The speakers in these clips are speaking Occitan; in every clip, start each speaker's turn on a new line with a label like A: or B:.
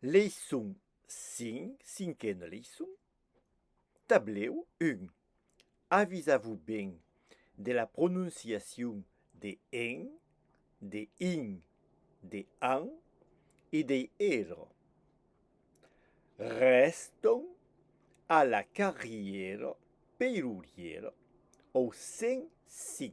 A: Leiçon 5, cinquena leiçon, tablèu 1. Avisa-vos ben de la prononciacion de en, de in, de an e dei ero. Rèston a la carrièra peirurièra au 105.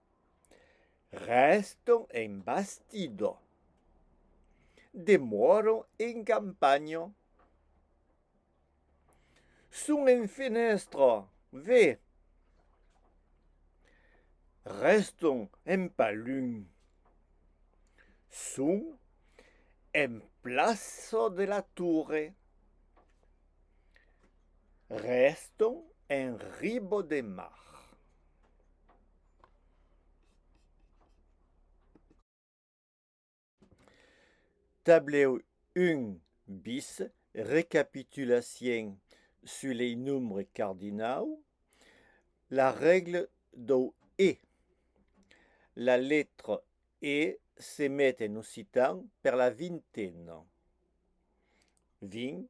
A: Resto en bastido. Demoro en campanho. Son en fenèstra, ve. Resto en palum. Son en plaça de la Torre. Resto en riba de mar. Tablèu 1 bis, recapitulacion sus lei nombres cardinau, la règle dau e. La letra e se met en occitan per la vintena. 20.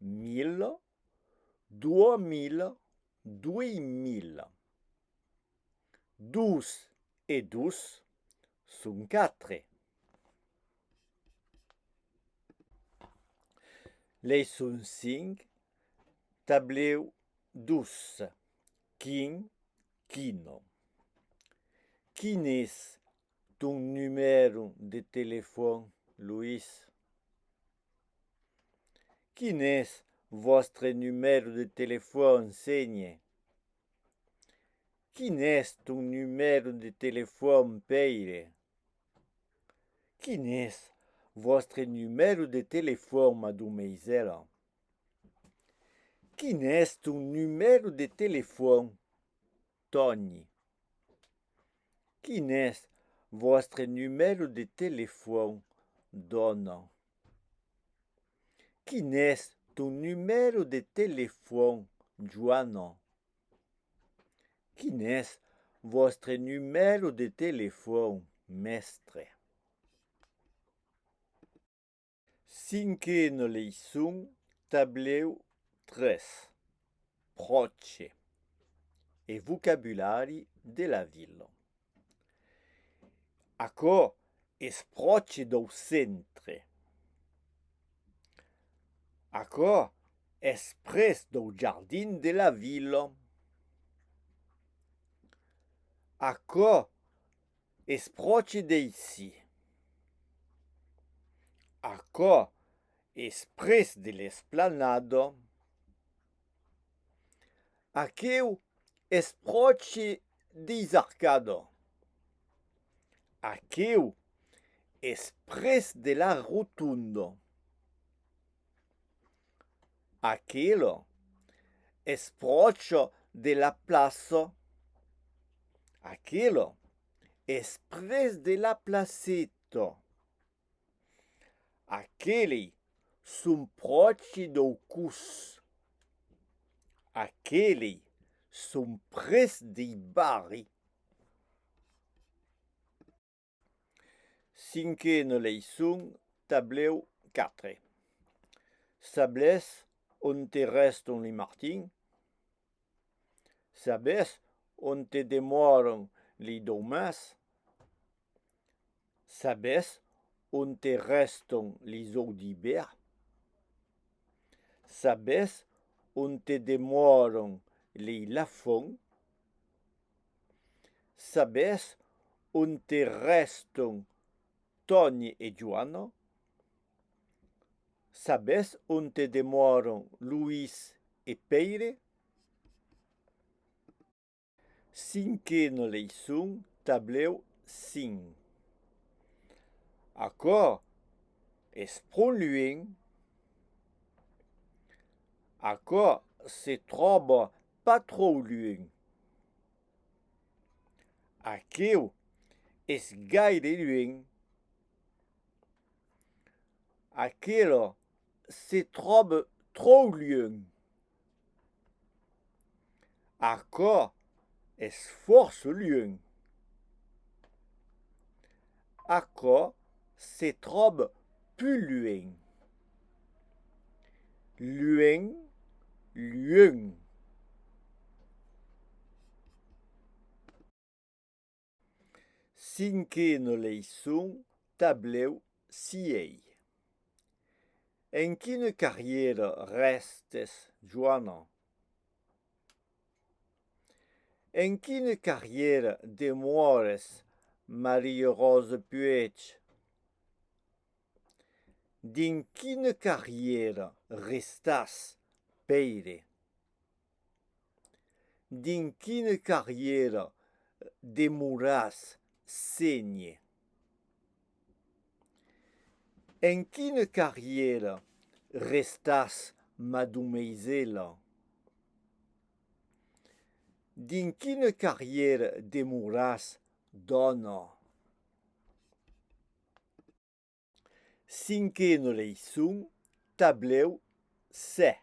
A: mil, dua mil, duei mil. Dos e dos son quatre. Leçon 5, tablèu 2, quin, quino. Quines Ton numèro de telefòn, Luís? Quin es vòstre numèro de telefòn, Ségne? Quin es ton numèro de telefòn, Pèire? Quin es vòstre numèro de telefòn, Madomeisèla? Quin es ton numèro de telefòn? Tòni. Quin es vòstre numèro de telefòn? Dòna. Quin es ton numèro de telefòn? Joana. Quin es vòstre numèro de telefòn? Mèstre. Cinquena leiçon, tablèu 3, Pròche e vocabulari de la vila. Aquò es pròche dau centre. Aquò es pres dau jardin de la vila. Aquò Es pròche d'aicí. Aquò es pres de l'esplanada. Aqueu es pròche deis arcada. Aqueu es pres de la rotonda. Aquilo, espròcho de la plaço, aquilo, esprés de la placito. Aqueli, son pròchi dau cus. Aqueli, son près dei barri. Cinquena leiçon, tablèu 4. Sabés onte rèston li martin? Sabés onte demòran li domas? Sabés onte rèston li zòu d'ibèr? Sabés onte demòran li lafon? Sabes onte rèston Tòni e Joana? Sabes onte demòron Luís e Pèire? Cinquena leiçon, tablèu 5 Aquò es pro luenh? Aquò se tròba pas tròu luenh. Aqueu es gaire luenh. Aquela se tròbe tròu luenh. Aquò es fòrça luenh. Aquò se tròb pus luenh. Luenh, luenh. Cinquen leiçon, tablèu sièi. En quina carrièra rèstes, Joana? En quina carrièra demores, Maria-Rosa Puech? Dins quina carrièra restàs, Pèire? Dins quina carrièra demoràs, Ségne? En quina carrièra restàs madomeisèla? Dins quina carrièra demoràs dòna? Cinquena leiçon, tablèu 7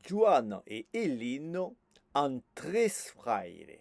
A: Joana e Elina an tres fraires.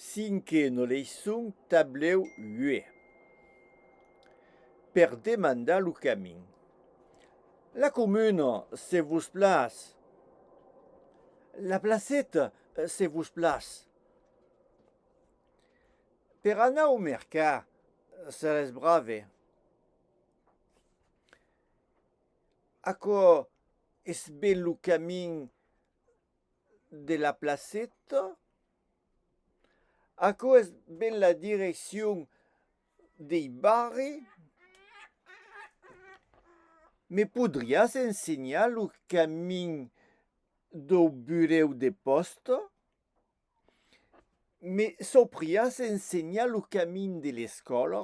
A: Cinquena leiçon, tablèu 8. Per demandar lo camin. La comuna, se vos plas. La placeta, se vos plas. Per anar au mercat, seretz brave. Aquò es ben lo camin de la placeta aquò es ben la direccion dei barri me podriás ensenhar lo camin dau burèu de pòsta? Me saupriás ensenhar lo camin de l'escòla?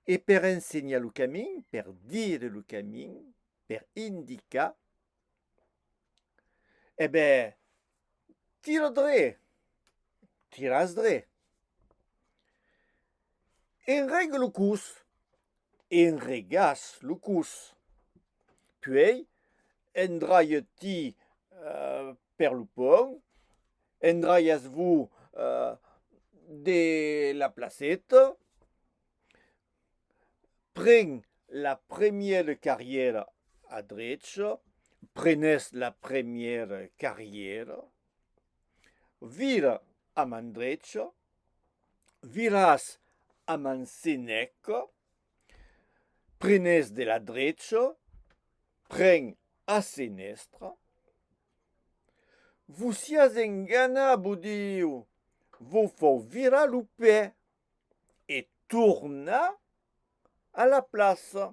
A: E per ensenhar lo camin, per dire lo camin, per indicar, e ben, tira dre, tiràs dre. Enrega lo cus, enregàs lo cus. Puèi, endraia-ti Per lo pònt, endraiatz-vos de la placeta, pren la première carrièra a drecha, prenètz la première carrièra, vira a man drecha, viratz a man seneca, Prenes de la drecha, pren a senestra. Vos siás enganat, vos diu, vos fau virar lo pè e tornar a la plaça.